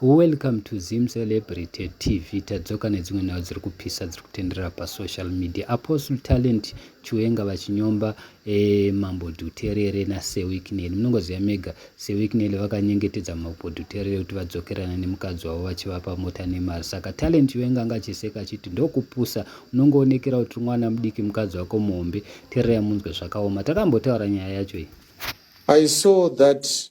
Welcome to Zim Celebrity TV tadzoka nedzimwe nhau dziri kupisa dziri kutenderera pasocial media Apostle Talent Chiwenga vachinyomba eh, mambo Dhuterere naSewicknell munongoziva mega Sewicknell vakanyengetedza mambo Dhuterere kuti vadzokerana nemukadzi wavo vachivapa mota nemari saka Talent Chiwenga anga achiseka achiti ndokupusa unongoonekera kuti mwana mudiki mukadzi wako muhombe tererai munzwe zvakaoma takambotaura nyaya yacho iyi I saw that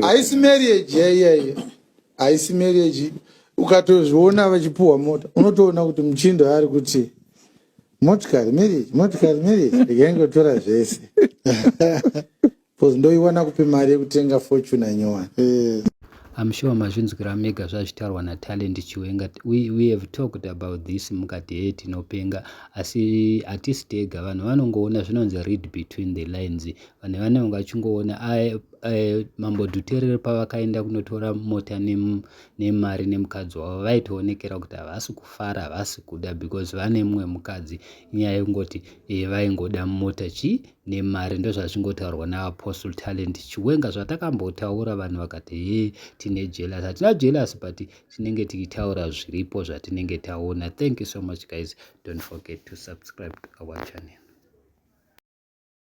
haisi marriage yaiyaye haisi marriage ukatozviona vachipuhwa mota unotoona kuti muchindo yaari kuti motikari marriage motikari marriage ndikangotora zvese bcause ndoiwana kupi mari yekutenga fortuna nyowani eh. I'm sure mazvinzwira mega zvazvitarwa na Talent Chiwenga. We, we have talked about this mukati hey tinopenga asi hatisi tega vanhu vanongoona zvinonzi read between the lines vanhu vanenge vachingoona mambo dhuterere pavakaenda kunotora mota nemari nemukadzi wavo vaitoonekera kuti havasi kufara havasi kuda because vane mumwe mukadzi inyaya yekungoti e, vaingoda mota chii nemari ndozvazvingotaurwa naapostle talent chiwenga zvatakambotaura vanhu vakati he tine jealous hatina jealous but tinenge tichitaura zviripo zvatinenge taona thank you so much guys don't forget to subscribe to our channel